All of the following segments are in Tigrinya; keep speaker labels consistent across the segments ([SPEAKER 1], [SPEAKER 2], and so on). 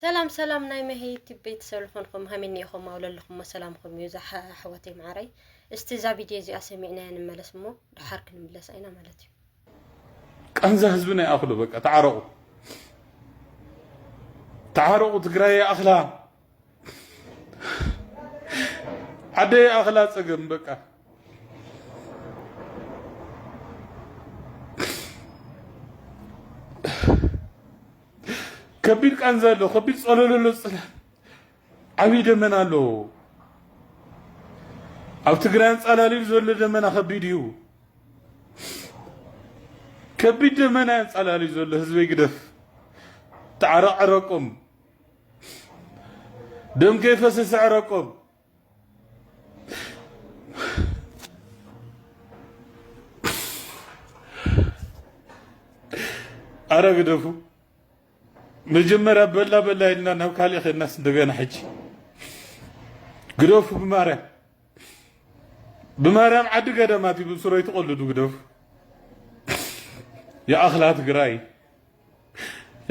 [SPEAKER 1] ሰላም ሰላም ናይ መሄ ዩቲብ ቤተሰብ ዝኾንኩም ሃሚኒ ኢኹም ኣብ ለለኹሞ ሰላምኩም እዩ ዛሓ ኣሕዋተይ መዓረይ እስቲ እዛ ቪድዮ እዚኣ ሰሚዕናያ ንመለስ እሞ ድሓር ክንምለሳ ኢና ማለት እዩ
[SPEAKER 2] ቃንዛ ህዝብና ይኣኽሎ በቃ ተዓረቑ ተዓረቑ ትግራይ ይኣኽላ ዓደ ይኣኽላ ፀገም በቃ ከቢድ ቃንዛ ኣሎ፣ ከቢድ ጸለሎ ኣሎ፣ ጽላል ዓብዪ ደመና ኣሎ። ኣብ ትግራይ ኣንጻላልዩ ዘሎ ደመና ከቢድ እዩ። ከቢድ ደመና ኣንጻላልዩ ዘሎ ህዝበይ ግደፍ ተዓረቕ ዕረቆም ደም ከይፈሰሰ ዕረቆም ኣረ ግደፉ መጀመርያ በላ በላ ኢልና ናብ ካልእ ከድናስ እንደገና ሕጂ ግደፉ ብማርያም ብማርያም ዓዲ ገዳማት እዩ ብሱረይ ትቐልዱ ግደፉ የኣኽላ ትግራይ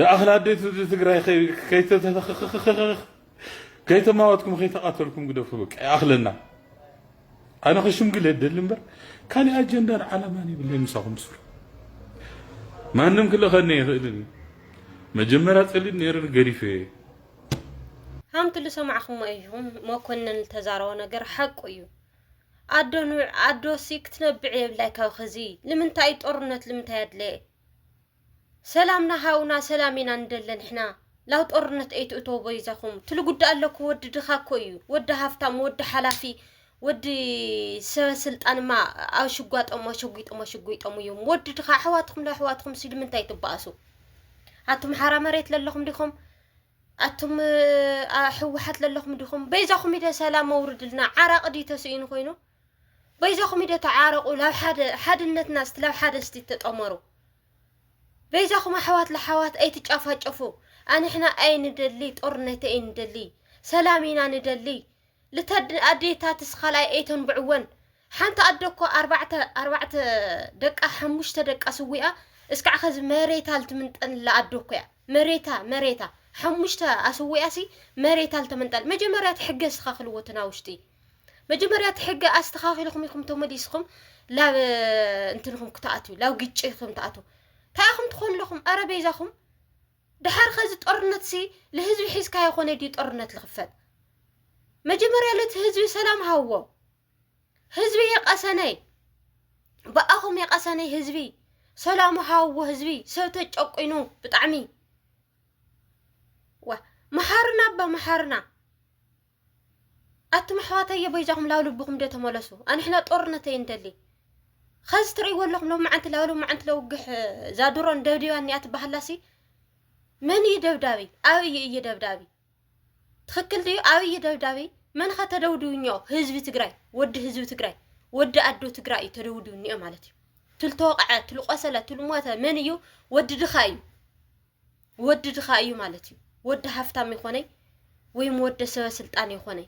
[SPEAKER 2] ይኣኽል ኣዴት ህዝቢ ትግራይ ከይተተተኽኽኽኽኽ ከይተማወትኩም ከይተቓተልኩም ግደፉ በቃ ይኣኽለና ኣነ ክሽምግል የደሊ እምበር ካሊእ ኣጀንዳን ዓላማን ይብለይ ምሳኹም ስሩ ማንም ክልእኸኒ ኣይኽእልን እዩ መጀመርያ ፀሊም ነይረን ገዲፈ እየ
[SPEAKER 1] ሃምቲ ልሰማዕኹሞ እዩም መኮንን ልተዛረቦ ነገር ሓቁ እዩ ኣዶ ንውዕ ኣዶሲ ክትነብዕ የብላይ ካብ ኸዚ ልምንታይ ጦርነት ልምንታይ ኣድለየ ሰላምና ሃውና ሰላም ኢና ንደለ ንሕና ላው ጦርነት ኣይትእተው በይዛኹም ትሉ ጉዳ ኣለኩ ወዲ ድኻ እኮ እዩ ወዲ ሃፍታም ወዲ ሓላፊ ወዲ ሰበ ስልጣንማ ኣሽጓጦም ኣሸጒጦም ኣሸጒጦም እዮም ወዲ ድኻ ኣሕዋትኩም ለኣሕዋትኩም ሲሉ ምንታይ ትበኣሱ ኣቱም ሓራ መሬት ለለኹም ዲኹም ኣቱም ሕወሓት ለለኹም ዲኹም በይዛኹም ኢደ ሰላም መውርድልና ዓራቂ ድዩ ተስኢኑ ኮይኑ በይዛኹም ኢደ ተዓረቁ ላብ ሓደ ሓድነትና ስቲ ላብ ሓደ ስቲ ተጠመሩ በይዛኹም ኣሕዋት ለሓዋት ኣይትጫፋጨፉ ኣንሕና ኣይንደሊ ጦርነት ኣይንደሊ ሰላም ኢና ንደሊ ልተድ ኣዴታትስ ካልኣይ ኣይተንብዕወን ሓንቲ ኣደ እኮ ኣርባዕተ ኣርባዕተ ደቃ ሓሙሽተ ደቃ ስዊኣ እስካዕ ኸዚ መሬታ ልትምንጠንላ ኣደ እኮ እያ መሬታ መሬታ ሓሙሽተ ኣስዊኣሲ መሬታ ልተመንጠል መጀመርያ ትሕገዝትኻ ክልዎትና ውሽጢ መጀመርያ እቲ ሕጊ ኣስተኻኺልኹም ኢኹም ተመሊስኹም ላብ እንትንኹም ክትኣትዩ ላብ ግጭ ኢኹም ትኣትዉ እንታይ ኢኹም ትኾኑ ኣለኹም ኣረ በይዛኹም ድሓር ኸዚ ጦርነት ሲ ንህዝቢ ሒዝካ ይኾነ ድዩ ጦርነት ዝኽፈት መጀመርያ ለቲ ህዝቢ ሰላም ሃዎ ህዝቢ የቀሰነይ ብኣኹም የቀሰነይ ህዝቢ ሰላሙ ሃዎ ህዝቢ ሰብ ተጨቁኑ ብጣዕሚ ዋ መሓርና ኣባ መሓርና ኣቱም ኣሕዋተየ በይዛኹም ላብ ልብኹም ዶ ተመለሱ ኣንሕና ጦርነት ኣይንደሊ ኸዚ ትርእይዎ ኣለኹም ሎም መዓንቲ ላብ ሎም መዓንቲ ለውግሕ ዛድሮን ደብዲባን እኒኣ ትበሃላሲ መን እዩ ደብዳቢ ኣብይ እዩ ደብዳቢ ትኽክል ድዩ ኣብይ ደብዳቢ መን ኸ ተደውድቡ እኒኦ ህዝቢ ትግራይ ወዲ ህዝቢ ትግራይ ወዲ ኣዶ ትግራይ እዩ ተደውድቡ እኒኦ ማለት እዩ ትልተወቕዐ ትልቆሰለ ትልሞተ መን እዩ ወዲ ድኻ እዩ ወዲ ድኻ እዩ ማለት እዩ። ወዲ ሃፍታም ይኾነይ ወይም ወደ ሰበ ስልጣን ይኾነይ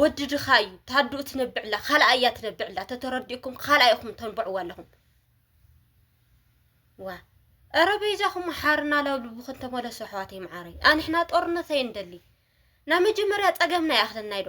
[SPEAKER 1] ወዲ ድኻ እዩ። ታዱኡ ትነብዕላ ካልኣ እያ ትነብዕላ ተተረዲኡኩም ካልኣ ኢኹም ተንብዕዎ ኣለኹም። ዋ ኧረ በይዛኹም ሓርና ላብ ልብኹም ተመለሱ ኣሕዋተይ መዓረይ። ኣንሕና ጦርነት ኣይንደሊ ናብ መጀመርያ ፀገምና ይኣኽለና ኢዶ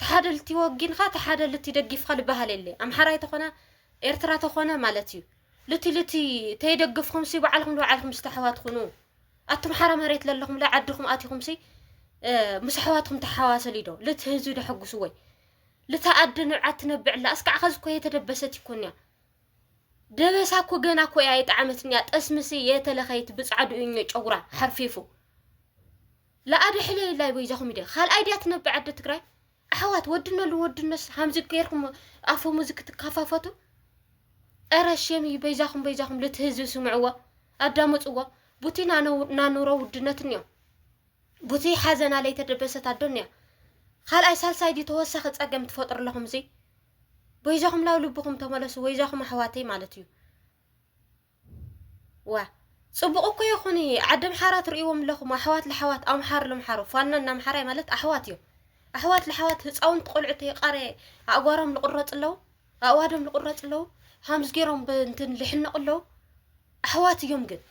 [SPEAKER 1] ተሓደ ልቲ ወጊንካ ተሓደ ልቲ ደጊፍካ ልበሃል የለ ኣምሓራይ ተኾነ ኤርትራ ተኾነ ማለት እዩ ልቲ ልቲ ተይደግፍኹም ሲ ባዓልኹም ንባዓልኹም ምስ ተሓዋት ኹኑ ኣቱም ሓራ መሬት ለለኹም ለ ዓድኹም ኣቲኹም ሲ ምስ ኣሕዋትኩም ተሓዋሰሊ ዶ ልቲ ህዝቢ ደሐጉሱ ወይ ልቲ ኣደ ንብዓት ትነብዕላ እስካዕ ኸዚ እኮ የተደበሰት ይኮን እያ ደበሳ እኮ ገና እኮ እያ የጣዓመትን እያ ጠስምሲ የተለኸይት ብጻዕዱ እኞ ጨጉራ ሐርፊፉ ለኣደ ሕለዩላይ በይዛኹም ሚድያ ኻልኣይ ድያ ትነብዕ ኣደ ትግራይ ኣሕዋት ወድኖ ልወድኖስ ሃምዚ ገይርኩም ኣፈሙዝ ክትካፋፈቱ ኧረ ሼም እዩ በይዛኹም በይዛኹም ልቲ ህዝቢ ስምዕዎ ኣዳምፅዎ ቡቲ ናኑሮ ውድነት እኒኦ ቡቲ ሓዘና ለይተደበሰት ኣዶ እኒኣ ኻልኣይ ሳልሳይ ድዩ ተወሳኺ ፀገም ትፈጥሩ ኣለኹም እዙይ በይዛኹም ላው ልብኹም ተመለሱ ወይዛኹም ኣሕዋተይ ማለት እዩ ዋእ ፅቡቅ እኮ ይኩን ዓዲ ኣምሓራ ትርእይዎም ኣለኩም ኣሕዋት ለሓዋት ኣምሓሩ ለምሓሩ ፋኖ እና ኣምሓራይ ማለት ኣሕዋት እዮም ኣሕዋት ለሓዋት ህፃውንቲ ቆልዑ ተይቃረ ኣእጓሮም ልቁረፅ ኣለው ኣእዋዶም ልቁረፅ ኣለው ሃምዝ ገይሮም ብእንትን ልሕነቁ ኣለው ኣሕዋት እዮም ግን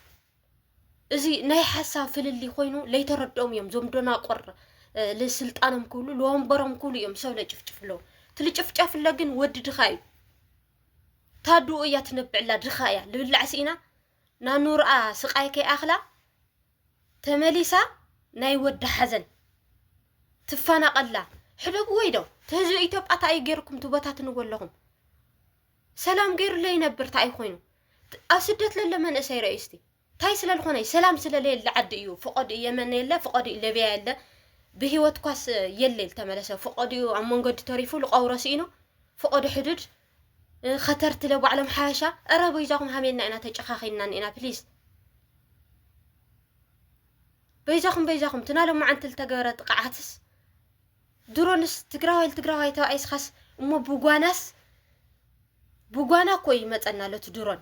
[SPEAKER 1] እዚ ናይ ሓሳብ ፍልልይ ኮይኑ ለይተረድኦም እዮም ዞም ዶናቆር ልስልጣኖም ክብሉ ልወንበሮም ክብሉ እዮም ሰብ ለጭፍጭፍለው እቲ ልጭፍጨፍለ ግን ወዲ ድኻ እዩ ታዱኡ እያ ትነብዕላ ድኻ እያ ልብላዕ ስኢና ናኑርኣ ስቃይ ከይኣኽላ ተመሊሳ ናይ ወዳ ሓዘን ትፋናቀላ ሕደጉ ወይ ዶ ትህዝቢ ኢትዮጵያ ታእዩ ገይርኩም ትበታትንዎ ኣለኹም ሰላም ገይሩ ለይነብር ታእዩ ኮይኑ ኣብ ስደት ለለ መንእሰይ ረእዩ እስቲ ታይ ስለልኾነዩ ሰላም ስለለየለ ዓዲ እዩ ፍቆድኡ የመን የለ ፍቆድኡ ለብያ የለ ብሂወት ኳስ የለ ልተመለሰ ፍቆድኡ ኣብ መንገዲ ተሪፉ ልቀብሮ ስኢኑ ፍቆዶ ሕዱድ ኸተርትለ ባዕሎም ሓበሻ እረ በይዛኹም ሃሜልና ኢና ተጨኻኺንና እኒእና ፕሊስ በይዛኹም በይዛኹም ትና ሎማዓንቲ ዝተገብረ ጥቕዓትስ ድሮንስ ትግራዋይ ትግራዋይ ተባኢስኻስ እሞ ብጓናስ ብጓና እኮ ይመፀና ኣሎ እቲ ድሮን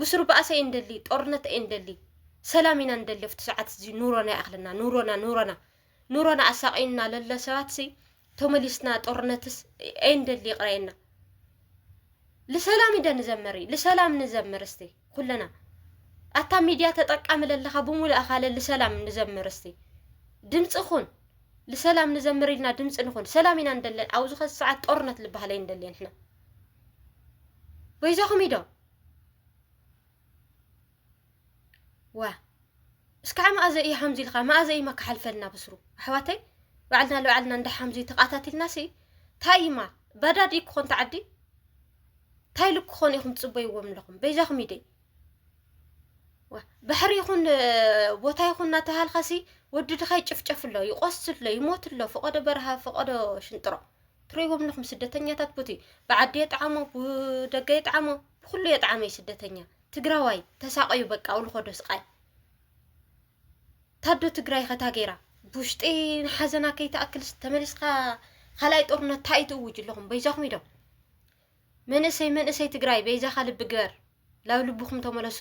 [SPEAKER 1] ብስሩ ባእሲ ኣይንደሊ ጦርነት ኣይንደሊ ሰላም ኢና ንደሊ ኣብቲ ሰዓት እዚ ኑሮና ይኣኽለና ኑሮና ኑሮና ኑሮና ኣሳቒዩና ለሎ ሰባትሲ ተመሊስና ጦርነትስ ኣይንደሊ ይቕረየና ልሰላም ኢደ ንዘመሪ ልሰላም ንዘምር እስቲ ኩለና ኣታ ሚድያ ተጠቃሚ ለለኻ ብሙሉእ ኣኻለ ልሰላም ንዘምር እስቲ ድምፂ ኹን ልሰላም ንዘምር ኢልና ድምፂ ንኹን ሰላም ኢና ንደለን ኣብዚ ኸዚ ሰዓት ጦርነት ልበሃል ኣይንደልየን ንሕና በይዛኹም ኢዶ ዋ እስካዕ መኣዘ እዩ ሓምዚ ኢልካ መኣዘ እዩ ማካሓልፈልና ብስሩ ኣሕዋተይ ባዕልና ልባዕልና እንዳ ሓምዚ ተቃታቲልና ሲ እንታይ እዩማ ባዳድ እዩ ክኾን ተዓዲ እንታይ ኢሉ ክኾኑ ኢኹም ትፅበይዎም ኣለኹም በይዛኹም ይደይ ባሕሪ ይኹን ቦታ ይኹን እናተባሃልካ ሲ ወዲ ድኻ ይጭፍጨፍ ኣሎ ይቆስል ኣሎ ይሞት ኣሎ ፈቐዶ በረሃ ፈቐዶ ሽንጥሮ ትርእይዎም ኣለኹም ስደተኛታት ቡቲ ብዓዲ የጥዓሞ ብደገ የጥዓሞ ብኩሉ የጥዓመ እዩ ስደተኛ ትግራዋይ ተሳቐዩ በቃ ኣብኡ ዝኸዶ ስቓይ ታዶ ትግራይ ኸታ ገይራ ብውሽጢ ሓዘና ከይትኣክልስ ተመሊስካ ካልኣይ ጦርነት ታይ እዩ ትእውጁ ኣለኹም በይዛኹም ኢሎም መንእሰይ መንእሰይ ትግራይ በይዛኻ ልቢ ግበር ላብ ልብኹም ተመለሱ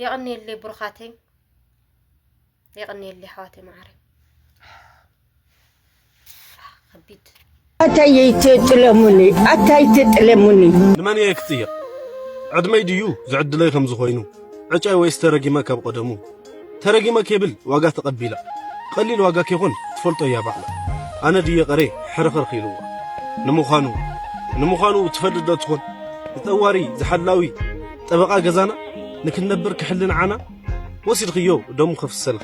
[SPEAKER 1] የቕንየለይ ብሩኻተይ የቕንየለይ ኣሕዋተይ መዓረይ ከቢድ ኣታይ
[SPEAKER 3] ትጥለሙኒ ኣታይ ትጥለሙኒ ንመን እየ ክጥየቕ
[SPEAKER 4] ዕድመይ ድዩ ዝዕድለይ ከምዚ ኮይኑ ዕጫይ ወይስ ተረጊመ ካብ ቐደሙ ተረጊመ ኬብል ዋጋ ተቐቢላ ቐሊል ዋጋ ኬኾን ትፈልጦ እያ ባዕላ ኣነ ድየ ቐርየ ሕርኽርኽ ኢልዋ ንምዃኑ ንምዃኑ ትፈልጥ ዶ ትኾን ንጠዋሪ ዝሓላዊ ጠበቓ ገዛና ንክንነብር ክሕሊ ንዓና ወሲድኽዮ ደሙ ከፍሰልኺ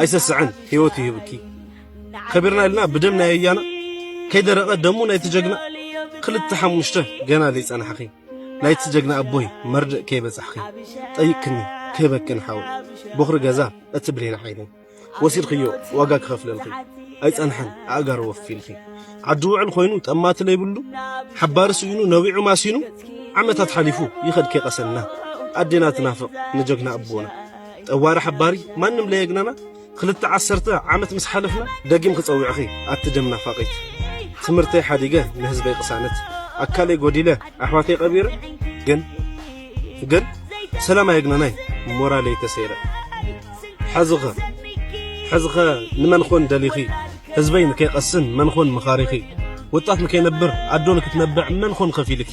[SPEAKER 4] ኣይሰስዐን ህይወት ይህብኪ ከቢርና ኢልና ብደም ናይ ኣያና ከይደረቐ ደሙ ናይቲ ጀግና ክልተ ሓሙሽተ ገና ዘይጸናሕኺ ናይቲ ጀግና ኣቦይ መርድእ ከይበጻሕኺ ጠይቅክኒ ክህበክን ሓወይ ቦኽሪ ገዛ እቲ ብሌን ዓይነይ ወሲድክዮ ዋጋ ክኸፍለልኺ ኣይጸንሐን ኣእጋሩ ወፊልኺ ዓዲ ውዕል ኮይኑ ጠማቲ ለይብሉ ሓባሪ ስኢኑ ነቢዑ ማሲኑ ዓመታት ሓሊፉ ይኸድ ከይቀሰና ኣዴና ትናፍቕ ንጀግና ኣቦና ጠዋሪ ሓባሪ ማንም ለየግናና ክልተ ዓሰርተ ዓመት ምስ ሓለፍና ደጊም ክጸውዕኺ ኣቲ ደም ናፋቒት። ትምህርተይ ሓዲገ ንህዝበይ ቅሳነት ኣካለይ ጎዲለ ኣሕዋተይ ቀቢረ ግን ግን ሰላም ኣየግነናይ ሞራለይ ተሰይረ ሕዝኸ ሕዝኸ ንመን ኾን ደሊኺ ህዝበይ ንከይቀስን መን ኾን መኻሪኺ ወጣት ንከይነብር ኣዶ ንክትነብዕ መን ኾን ከፊልኪ